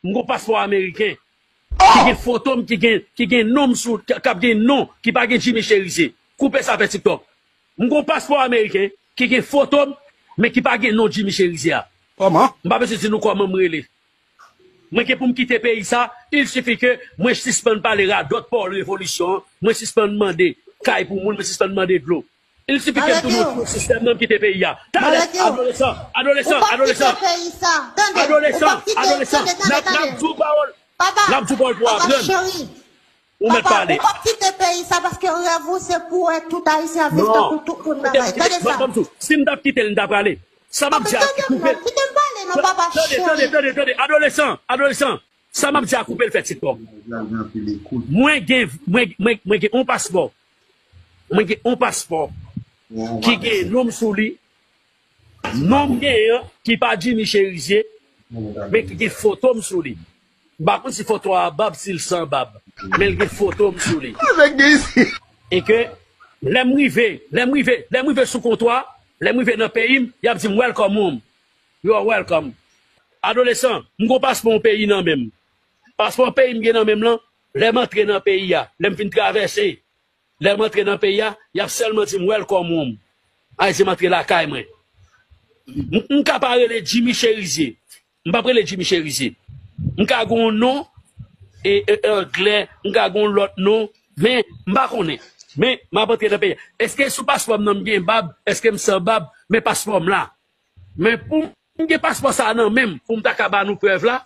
M gon paspò ameriken ki gen foto m ki gen non m sou l kap gen non ki pa gen Jimmy Cherizier koupe sa fè tiktok m gon paspò ameriken ki gen foto m men ki pa gen non Jimmy Cherizier a Kòman? M pa bezwen di nou kòman m rele Mwen gen pou m kite peyi sa il sifi ke mwen sispann pale radòt Paul revolisyon an mwen sispann mande kay pou moun mwen sispann mande dlo Il suffit kem tounen otkou sistèm nan kite peyi a talè adolesan adolesan adolesan adolesan adolesan nap nap diw pawòl nap diw pawòl pou aprann ou mèt pale non banm sou sim tap kitel m ta prale sa map di a ki koupe tande tande tande tande adolesan adolesan sa map di a koupe l fè tiktok mwen gen mwen gen mwen gen yon paspò Mwen gen yon paspò ki gen non m sou li, non m genyen an ki pa Jimmy Cherizier men ki gen foto m sou li. M pa konn si foto a bab, si l san bab men l gen foto m sou li. E ke lè m rive, lè m rive, lè m rive sou kontwa, lè m rive nan peyi m, y ap di m welcome home, you are welcome. Adolesan, m gen yon paspò yon peyi nan men m. Paspò peyi m gen nan men m lan, Lè m antre nan peyi a, lè m fin travèse, lè m antre nan peyi a, y ap sèlman di m Welcome home, ay se m antre lakay mwen. M ka pa rele Jimmy Cherizier, m p ap rele Jimmy Cherizier, m ka gen yon non anglè, m ka gen yon lòt non, men m pa konnen. Men m ap antre nan peyi a. Èske sou paspò m nan m gen bab? Èske m san bab? Men paspò m la. Men poum gen paspò sa nan menm poum ta ka ba nou prèv la,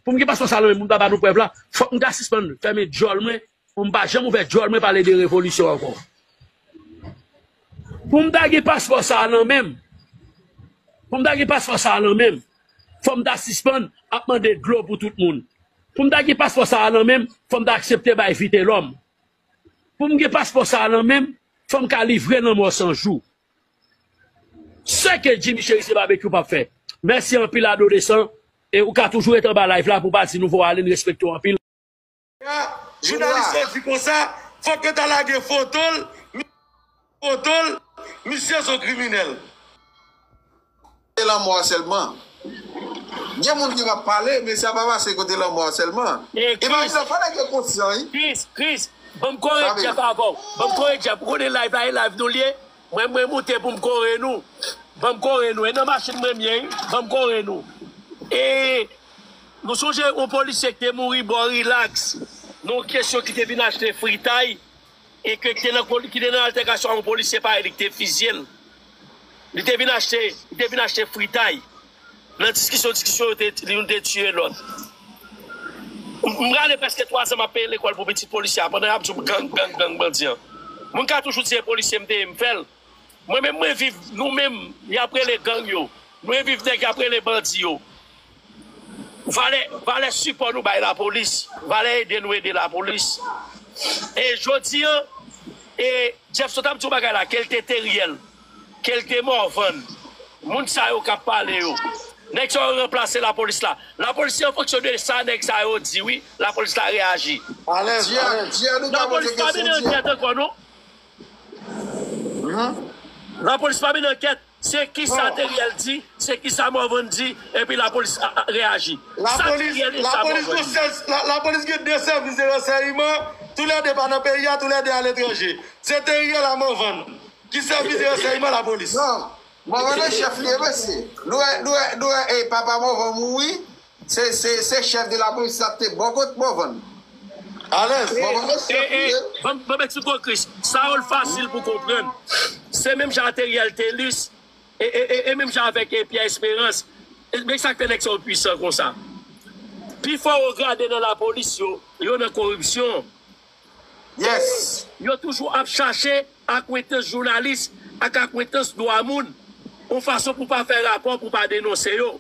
poum gen paspò sa nan menm poum ta ba nou prèv la, fòk mta sispann fèmen djòl mwen poum pa janm ouvè djòl mwen pale de revolisyon ankò. Poum ta gen paspò sa nan menm, poum ta gen paspò sa nan menm, fòm ta sispann ap mande dlo pou tout moun. Poum ta gen paspò sa nan menm, fòm ta aksepte bay vitelòm. Poum gen paspò sa nan menm, fòm ka livre lanmò san jou. Seke Jimmy cheri se babekyou pap fè. Mèsi anpil adolesan e ou ka toujou ret anba live la pou pa di nou vo ale n respekte w anpil. Sa jounalis yo di konsa fok yo ta lage fotol misye son kriminel. Se lanmò a sèlman. Gen moun ki va pale, men sa pa pase kote lanmò a sèlman. Imajine, fò nèg yo konsyan wi. Chris, Chris, banm kore Jeff avèw. Banm kore Jeff. Ou konnen live la e live nou li ye. Mwen, mwen moute poum kore nou. Banm kore nou. E nan machin mwen ye wi. Banm kore nou. E nou sonje yon polisye ki te mouri bò relax nan yon kesyon ki te vin achte fritay. e ke kite nan ki te nan altèkasyon ak yon polisye pa e li ki te fizye l li te vin achte li te vin achte fritay nan diskisyon diskisyon yo te youn te tiye lòt m prale prèske 3 zan m ap peye lekòl pou pitit polisye a pandan y ap di w gang gang gang bandi an moun ka toujou di e polisye m te ye m fè l. Mwen menm mwen viv nou menm yap rele gang yo mwen viv nèg yap rele bandi yo valè valè sipò nou bay lapolis valè ede nou ede lapolis e jodi an e Jeffson tap di yon bagay la kel te Teriel kel te Morvan moun sa yo kap pale yo nèg sa yo ranplase lapolis la lapolis se an fonksyon de sa nèg sa yo di wi lapolis la reyaji. Alèz alèz. Lapolis pa mennen ankyèt ankò non. Lapolis pa mennen ankèt, se kisa Theriel di, se kisa Morvan di, epi lapolis reyaji. Sa Theriel e sa Morvan di. Lapolis gen 2 sèvis de ransèyman, tou lè 2 pa nan peyi a, tou lè 2 a letranje. Se Theriel a Morvan ki sèvis de ransèyman lapolis. Non, Morvan nan chèf li ye mesye. Nou wè papa Morvan mouri, Se chef de la police la te bon kot morvan. Alez morvan gen chef li ye. Bon men ti gwo kris sa ol fasil pou konprann se menm jan a teriel telus e menm jan avek pierre esperans men sak fè nèg sa yo pwisan konsa pi fò o grade nan la polis yo yo nan koripsyon yes yo toujou ap chache akwentans jounalis ak akwentans dwa moun on fason pou pa fè rapò pou pa denonse yo.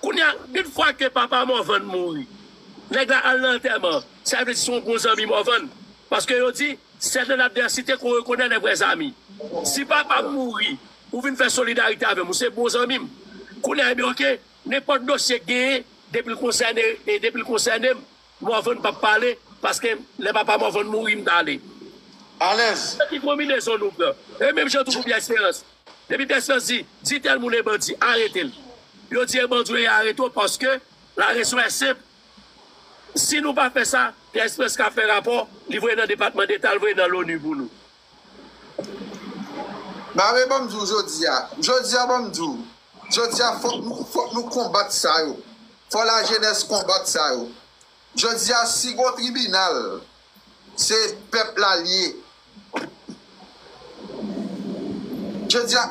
Kounya une fwa ke papa Morvan mouri nèg la al nan antèman an sa vle di son bon zanmi Morvan paske yo di sè nan ladvèsite kon rekonè lè vrè zami si papam mouri ou vin fè solidarite avèm ou se bon zanmim kounya ebyen ok nenpòt dosye k genyen depil konsène depil konsènem Morvan pap pale paske lè papa Morvan mouri m t ale alèz. Nan ki konbinezon nou pran. E menm jan tou pou Pierre Espérance. Depi Pierre Espérance di, di tèl moun e bandi, arete l. Yo di e bandi ou ye arete w paske la rezon è senp, si nou pa fè sa, Pierre Espérance ka fè rapò, li voye nan depatman deta, li voye nan Loni pou nou. Mare banm di w jodia jodia banm di w jodia fok nou fok nou konbat sa yo fò la jenès konbat sa yo jodia si gon tribinal se pèp la l ye jodia.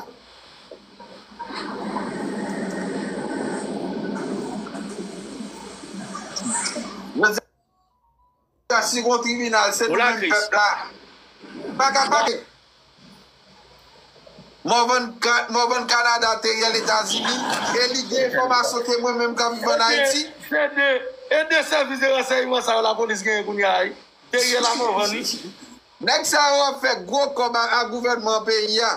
Sa si gon tribinal se nou menm pèp la pa ka pale. Morvan Canada te rèl Etazini e li gen enfòmasyon ke mwen menm kap viv an Ayiti. Se 2 e 2 sèvis de ransèyman sa yo la polis genyen kounya a wi. Te rèl a Morvan wi. Nèg sa yo ap fè gwo kòb a gouvènman peyi a.